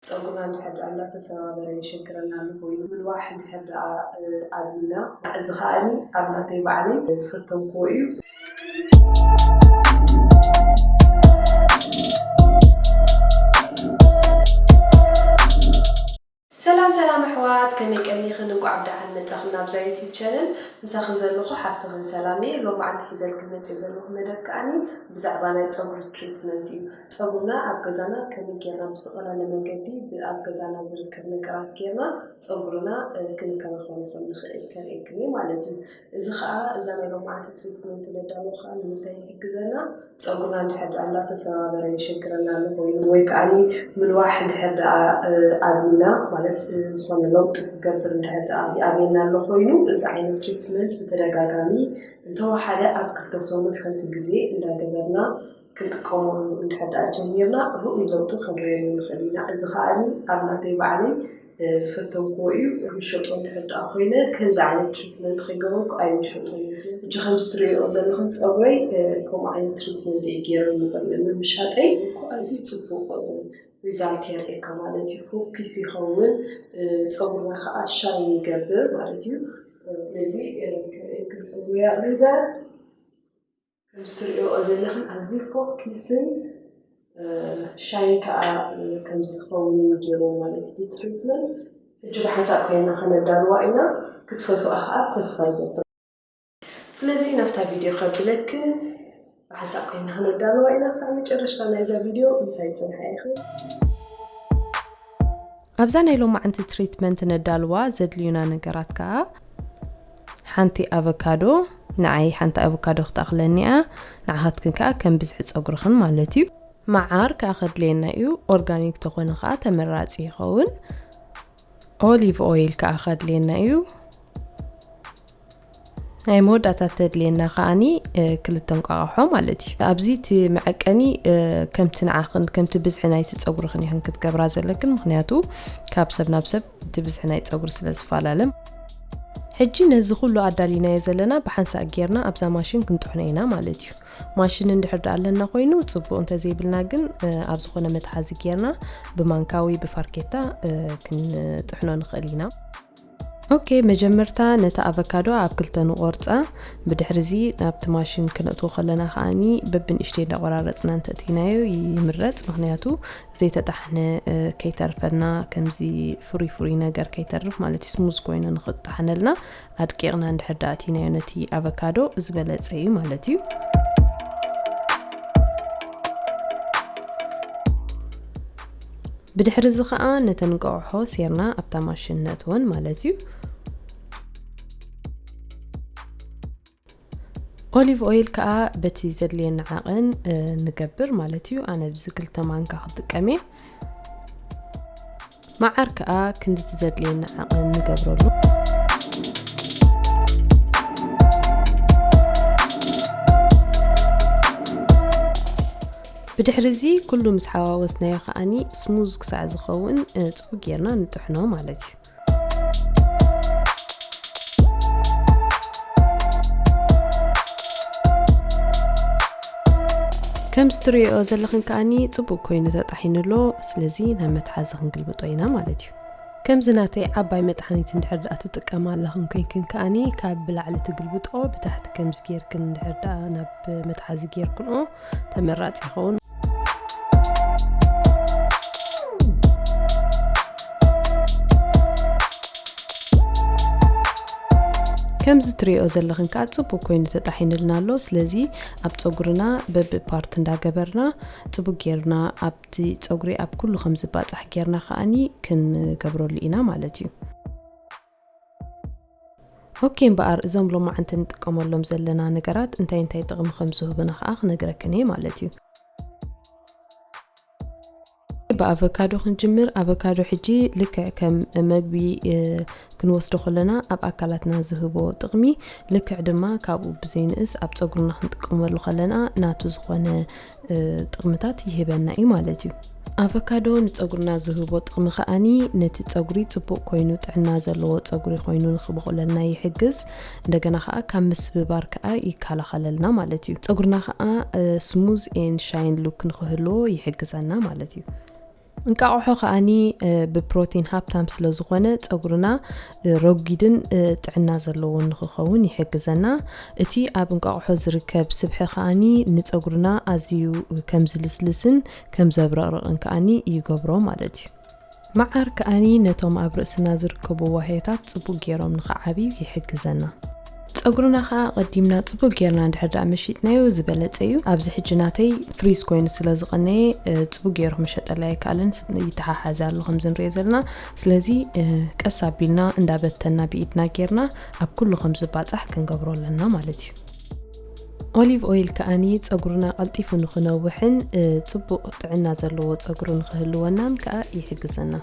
ጸጉርና እንድሕር ድኣ እንዳተሰባበረ የሸግረና ኣሎ ኮይኑ ምንዋሕ እንድሕር ድኣ ኣብዩና። እዚ ከኣ ኣብ ናተይ ባዕለይ ዝፈተንክዎ እዩ። ሰላም ሰላም ኣሕዋት ከመይ ቀኒኽን እንቋዕ ብደሓን መጻኽን ናብዛ ዩቲብ ቻነል ምሳኽን ዘለኹ ሓፍትኽን ሰላም እየ ሎማዓንቲ ሒዘልክን መጽየ ዘለኹ መደብ ከኣ ብዛዕባ ናይ ጸጉሪ ትሪትመንት እዩ ፀጉርና ኣብ ገዛና ከመይ ገይርና ብዝተቐለለ መንገዲ ብኣብ ገዛና ዝርከብ ነገራት ገይርና ፀጉርና ክንከናኸኖ ከም ንኽእል ከርእየክን እየ ማለት እዩ። እዚ ከዓ እዛ ናይ ሎምዓንቲ ትሪትመንት ነዳሎ ከዓ ንምንታይ ይሕግዘና? ፀጉርና እንድሕር ድኣ እንዳተሰባበረ የሸግረና ኣሎ ኮይኑ ወይ ከዓኒ ምልዋሕ እንድሕር ድኣ ኣብይና ማለት ዝኾነ ለውጢ ክገብር እንድሕር ድኣ ይኣብየና ኣሎ ኮይኑ እዚ ዓይነት ትሪትመንት ብተደጋጋሚ እንተወሓደ ኣብ ክልተ ሰሙን ሓንቲ ግዜ እንዳገበርና ክንጥቀመሉ እንድሕር ደኣ ጀሚርና ርኡይ ለውጢ ከንርእየሉ ንኽእል ኢና። እዚ ከኣኒ ኣብ ናተይ ባዕለይ ዝፈተውክዎ እዩ። ክሸጦ እንድሕር ደኣ ኮይነ ከምዚ ዓይነት ትሪትመንት ከይገበርኩ ኣይምሸጦን እየ። ሕጂ ከምዚ ትርእይኦ ዘለኽን ጸጉረይ ከምኡ ዓይነት ትሪትመንት እየ ገይረሉ ብምሻጠይ እኮ ኣዝዩ ጽቡቕ ሪዛልት የርእየካ ማለት እዩ። ፎኪስ ይኸውን፣ ጸጉርና ከኣ ሻይን ይገብር ማለት እዩ። ስለዚ ክንጽጉ ያእ ንበር። ከምዚ ትርእዮኦ ዘለኽን ኣዝዩ ፎኪስን ሻይን ከኣ ከምዚ ዝኸውን ገይሩ ማለት እዩ ትሪትመንት ሕጂ ብሓንሳእ ኮይና ከነዳልዋ ኢና ክትፈትዋ ከኣ ተስፋ ይገብር ስለዚ ናብታ ቪድዮ ከብለክን ብሓንሳእ ኮይና ከነዳልዋ ኢና ክሳዕ መጨረሽታ ናይዛ ቪድዮ ምሳይ ጽንሓ ኢኺ። ኣብዛ ናይ ሎማዕንቲ ትሪትመንት ነዳልዋ ዘድልዩና ነገራት ከኣ ሓንቲ ኣቨካዶ ንዓይ ሓንቲ ኣቨካዶ ክትኣኽለኒ እያ ንዓኻትክን ከኣ ከም ብዝሒ ጸጉርኽን ማለት እዩ መዓር ከኣ ከድልየና እዩ ኦርጋኒክ ተኾነ ከኣ ተመራጺ ይኸውን ኦሊቭ ኦይል ከኣ ከድልየና እዩ ናይ መወዳእታ ተድልየና ከዓኒ ክልተ እንቋቕሖ ማለት እዩ ኣብዚ እቲ መዐቀኒ ከምቲ ንዓኽን ከምቲ ብዝሒ ናይቲ ፀጉርኽን ይኽን ክትገብራ ዘለክን ምክንያቱ ካብ ሰብ ናብ ሰብ እቲ ብዝሒ ናይ ፀጉሪ ስለ ዝፈላለ ሕጂ ነዚ ኩሉ ኣዳሊናዮ ዘለና ብሓንሳእ ጌርና ኣብዛ ማሽን ክንጥሕኖ ኢና ማለት እዩ ማሽን እንድሕር ዳኣ ኣለና ኮይኑ ፅቡቅ እንተዘይብልና ግን ኣብ ዝኾነ መትሓዚ ጌርና ብማንካዊ ብፋርኬታ ክንጥሕኖ ንኽእል ኢና ኦኬ መጀመርታ ነቲ ኣቨካዶ ኣብ ክልተ ንቆርጻ ብድሕሪ እዚ ናብቲ ማሽን ክነእትዎ ከለና ከኣኒ በብንእሽተይ እንዳቆራረጽና እንተእትይናዮ ይምረጽ ምክንያቱ ዘይተጣሕነ ከይተርፈና ከምዚ ፍሩይ ፍሩይ ነገር ከይተርፍ ማለት ስሙዝ ኮይኑ ንክጣሕነልና ኣድቂቕና እንድሕር ዳእትይናዮ ነቲ ኣቨካዶ ዝበለጸ እዩ ማለት እዩ ብድሕሪ እዚ ከኣ ነተን እንቋቑሖ ሴርና ኣብታ ማሽን ነእትወን ማለት እዩ። ኦሊቭ ኦይል ከኣ በቲ ዘድልየና ዓቕን ንገብር ማለት እዩ። ኣነ ብዚ ክልተ ማንካ ክጥቀም እየ። መዓር ከኣ ክንድቲ ዘድልየና ዓቕን ንገብረሉ። ብድሕሪ እዚ ኩሉ ምስ ሓዋወስናዮ ከዓኒ ስሙዝ ክሳዕ ዝኸውን ፅቡ ጌርና ንጥሕኖ ማለት እዩ ከም ዝትሪኦ ዘለኽን ከዓኒ ፅቡቅ ኮይኑ ተጣሒኑ ኣሎ ስለዚ ናብ መትሓዚ ክንግልብጦ ኢና ማለት እዩ ከምዚ ናተይ ዓባይ መጥሓኒት እንድሕር ድኣ ትጥቀም ኣለኽን ኮይንክን ከዓኒ ካብ ብላዕሊ ትግልብጦ ብታሕቲ ከምዚ ጌርክን እንድሕር ድኣ ናብ መትሓዚ ጌርክንኦ ተመራፂ ይኸውን። ከምዚ ትሪኦ ዘለኽን ከዓ ፅቡቅ ኮይኑ ተጣሒንልና ኣሎ ስለዚ ኣብ ፀጉርና በቢ ፓርት እንዳገበርና ፅቡቅ ጌርና ኣብቲ ፀጉሪ ኣብ ኩሉ ከም ዝባፃሕ ጌርና ከዓኒ ክንገብረሉ ኢና ማለት እዩ ኦኬ እምበኣር እዞም ሎማዓንቲ ንጥቀመሎም ዘለና ነገራት እንታይ እንታይ ጥቕሚ ከም ዝህቡና ኸኣ ክነግረክን እየ ማለት እዩ ብኣቨካዶ ክንጅምር ኣቨካዶ ሕጂ ልክዕ ከም መግቢ ክንወስዶ ከለና ኣብ ኣካላትና ዝህቦ ጥቕሚ ልክዕ ድማ ካብኡ ብዘይንእስ ኣብ ፀጉርና ክንጥቀመሉ ከለና ናቱ ዝኾነ ጥቕምታት ይህበና እዩ ማለት እዩ ኣቨካዶ ንፀጉርና ዝህቦ ጥቕሚ ከዓኒ ነቲ ፀጉሪ ፅቡቕ ኮይኑ ጥዕና ዘለዎ ፀጉሪ ኮይኑ ንክበቑለልና ይሕግዝ እንደገና ከዓ ካብ ምስብባር ከዓ ይከላኸለልና ማለት እዩ ፀጉርና ከዓ ስሙዝ ኤን ሻይን ሉክ ንክህልዎ ይሕግዘና ማለት እዩ እንቃቑሖ ከኣኒ ብፕሮቲን ሃብታም ስለ ዝኾነ ጸጉርና ረጒድን ጥዕና ዘለዎን ንኽኸውን ይሕግዘና። እቲ ኣብ እንቃቑሖ ዝርከብ ስብሒ ከኣኒ ንጸጉርና ኣዝዩ ከም ዝልስልስን ከም ዘብረቕርቕን ከኣኒ ይገብሮ ማለት እዩ። መዓር ከኣኒ ነቶም ኣብ ርእስና ዝርከቡ ዋህዮታት ጽቡቕ ጌሮም ንኽዓብዩ ይሕግዘና። ጸጉርና ከኣ ኣቐዲምና ጽቡቅ ጌርና እንድሕር ደኣ መሺጥናዮ ዝበለጸ እዩ። ኣብዚ ሕጂ ናተይ ፍሪዝ ኮይኑ ስለ ዝቐነየ ጽቡቅ ገይሩ ክምሸጠለይ ኣይከኣለን ይተሓሓዝ ኣሎ ከምዚ ንሪኦ ዘለና። ስለዚ ቀስ ኣቢልና እንዳበተና ብኢድና ጌርና ኣብ ኩሉ ከም ዝባጻሕ ክንገብሮ ኣለና ማለት እዩ። ኦሊቭ ኦይል ከኣኒ ጸጉርና ቀልጢፉ ንኽነውሕን ጽቡቅ ጥዕና ዘለዎ ጸጉሪ ንኽህልወናን ከኣ ይሕግዘና።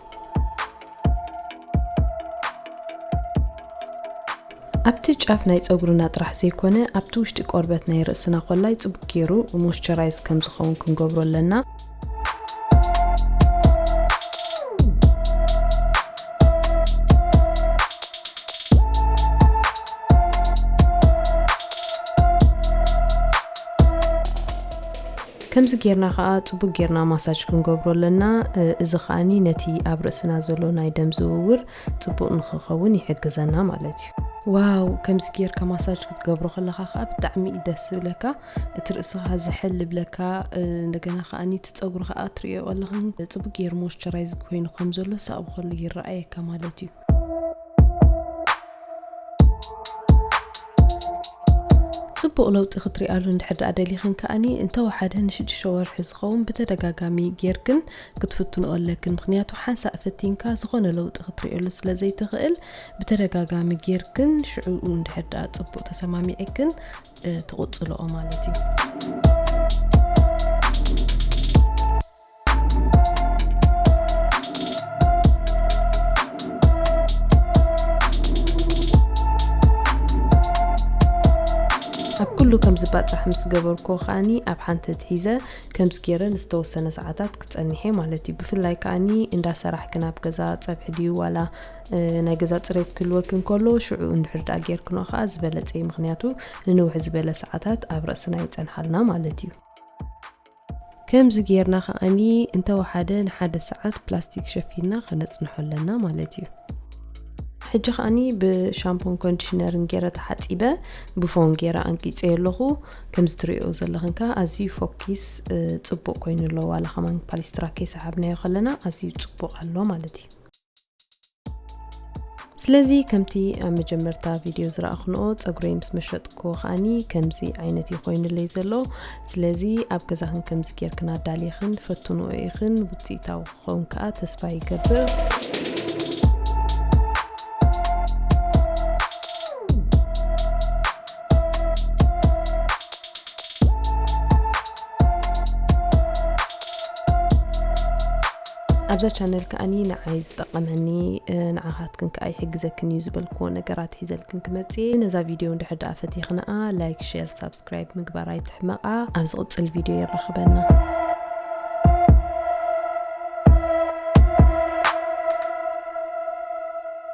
ኣብቲ ጫፍ ናይ ፀጉርና ጥራሕ ዘይኮነ ኣብቲ ውሽጢ ቆርበት ናይ ርእስና ኮላይ ፅቡቅ ገይሩ ሞስቸራይዝ ከም ዝኸውን ክንገብሮ ኣለና ከምዚ ጌርና ከኣ ጽቡቅ ጌርና ማሳጅ ክንገብሮ ኣለና እዚ ከኣ ነቲ ኣብ ርእስና ዘሎ ናይ ደም ዝውውር ጽቡቅ ንክከውን ይሕግዘና ማለት እዩ። ዋው ከምዚ ጌርካ ማሳጅ ክትገብሮ ከለካ ከኣ ብጣዕሚ እዩ ደስ ዝብለካ እቲ ርእስካ ዝሕል ይብለካ እንደገና ከኣ እቲ ጸጉሪ ከኣ ትርእዮ ኣለካ ጽቡቅ ጌሩ ሞይስቸራይዝ ኮይኑ ከም ዘሎ ሳብ ከሉ ይረኣየካ ማለት እዩ። ጽቡቕ ለውጢ ክትሪኣሉ እንድሕር ደኣ ደሊኽን ከኣኒ እንተወሓደ ንሽዱሽተ ወርሒ ዝኸውን ብተደጋጋሚ ጌርክን ክትፍትንኦ ኣለክን ምክንያቱ ሓንሳእ ፈቲንካ ዝኾነ ለውጢ ክትሪእሉ ስለ ዘይትኽእል ብተደጋጋሚ ጌርክን ሽዑኡ እንድሕር ደኣ ጽቡቕ ተሰማሚዕክን ትቕጽልኦ ማለት እዩ ኣብ ኩሉ ከም ዝባጻሕ ምስ ገበርኩ ከኣኒ ኣብ ሓንቲ ትሒዘ ከምዚ ገይረ ንዝተወሰነ ሰዓታት ክጸኒሐ ማለት እዩ ብፍላይ ከኣኒ እንዳ ሰራሕኪ ናብ ገዛ ጸብሒ ድዩ ዋላ ናይ ገዛ ፅሬት ክህልወኪ እንከሎ ሽዑ እንድሕር ድኣ ጌርክኖ ከዓ ዝበለፀ እዩ ምክንያቱ ንንውሕ ዝበለ ሰዓታት ኣብ ርእስና ይፀንሓልና ማለት እዩ ከምዚ ጌርና ከኣ እንተ ወሓደ ንሓደ ሰዓት ፕላስቲክ ሸፊንና ከነጽንሖ ኣለና ማለት እዩ። ሕጂ ከኣ ብሻምፖን ኮንዲሽነርን ጌረ ተሓጺበ ብፎም ጌረ ኣንቂጸዮ ኣለኹ። ከምዚ ትርእዮ ዘለኽን ከኣ ኣዝዩ ፎኪስ ጽቡቕ ኮይኑ ኣሎ። ዋላ ከማን ፓሊስትራ ከይሰሓብናዮ ከለና ኣዝዩ ጽቡቕ ኣሎ ማለት እዩ። ስለዚ ከምቲ ኣብ መጀመርታ ቪድዮ ዝረእኹንኦ ፀጉረይ ምስ መሸጥኩ ከዓኒ ከምዚ ዓይነት እዩ ኮይኑለይ ዘሎ ስለዚ ኣብ ገዛኽን ከምዚ ጌርክን ኣዳሊኽን ፈትንኦ ኢኽን ውፅኢታዊ ክኸውን ከዓ ተስፋ ይገብር ኣብዛ ቻነል ከኣ ንዓይ ዝጠቐመኒ ንዓኻትክን ከኣ ይሕግዘክን እዩ ዝበልክዎ ነገራት ሒዘልክን ክመጽ ነዛ ቪድዮ እንድሕር ደኣ ፈቲኽንኣ ላይክ ሸር ሳብስክራይብ ምግባር ኣይትሕመቓ ኣብ ዝቕጽል ቪድዮ የራኽበና